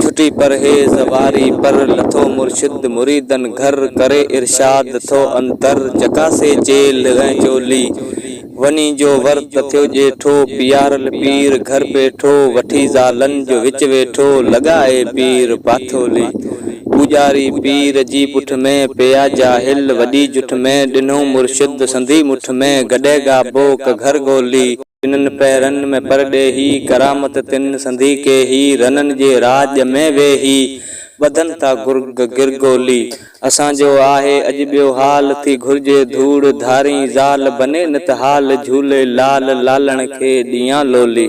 ڇٽي پرهيز واري پر، لٿو مرشد مريدن گهر، ڪري ارشاد ٿو انتر، چڪاسي چيلهه ۽ چولي، وڃي جو ورت ٿيو ڄيٺو، پيارل پير گهر پيٺو، وٺي زالن جو وچ ويٺو، لڳائي پير پاٿولي، پوڄاري پير جي پٺ ۾، پيا جاهل وڏي جٺ ۾، ڏنو مرشد سنڌي مٺ ۾، گڏي گابو ڪگهر گولي، تنن پهرن ۾ پرڏيهي، ڪرامت تن سنڌي ڪيهي، رنن جي راڄ ۾ ويهي، ٻڌن ٿا گرگ گرگولي. اسان جو آهي اڄ ٻيو حال، ٿي گهرجي ڌوڙ ڌارين زال، بني نت حال جهولي لال، لالڻ کي ڏيان لولي.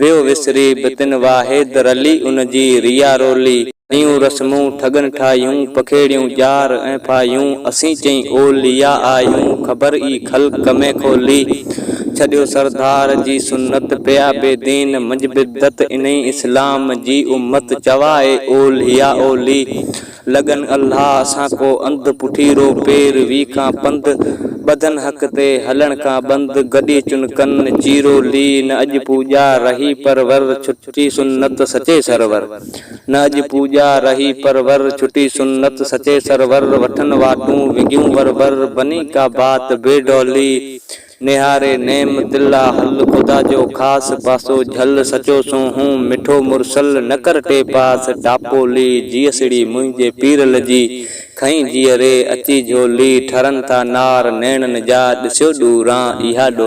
ويو وسري به تن واحد رلي ان جي ريا رولي ڪيون رسمون ٺڳن ٺاهيون پکيڙيون ڄار ۽ ڦاهيون اسين چئين اوليا آهيون خبر ئي خلق ۾ کولي ڇڏيو سردار جي سنت پيا بي دين منجهه بدعت انهي اسلام جي امت چوائي اوليا اولي لڳن الله اسان ڪو انڌ پٺيرو پير وي ڪان پنڌ ٻڌن حق تي هلڻ ڪان بند گڏي چن ڪن چيرو لي نه اڄ پوڄا رهي پر ور ڇٽي سنت سچي سرور نه اڄ پوڄا رهي پر ور ڇٽي سنت سچي سرور وٺن واٽون وڳيون ور ور بني ڪا بات بي ڊولي نهاري نعم دلا هل خدا جو خاص پاسو جهل سچو سون هون مٺو مرسل نه ڪر ٽي پاس ڊاپو لي جيئسڙي منهنجي پير لڄي کئين جيئري اچي جهولي ٺرن ٿا نار نيڻن جا ڏسيو ڏوران اها ڏولي.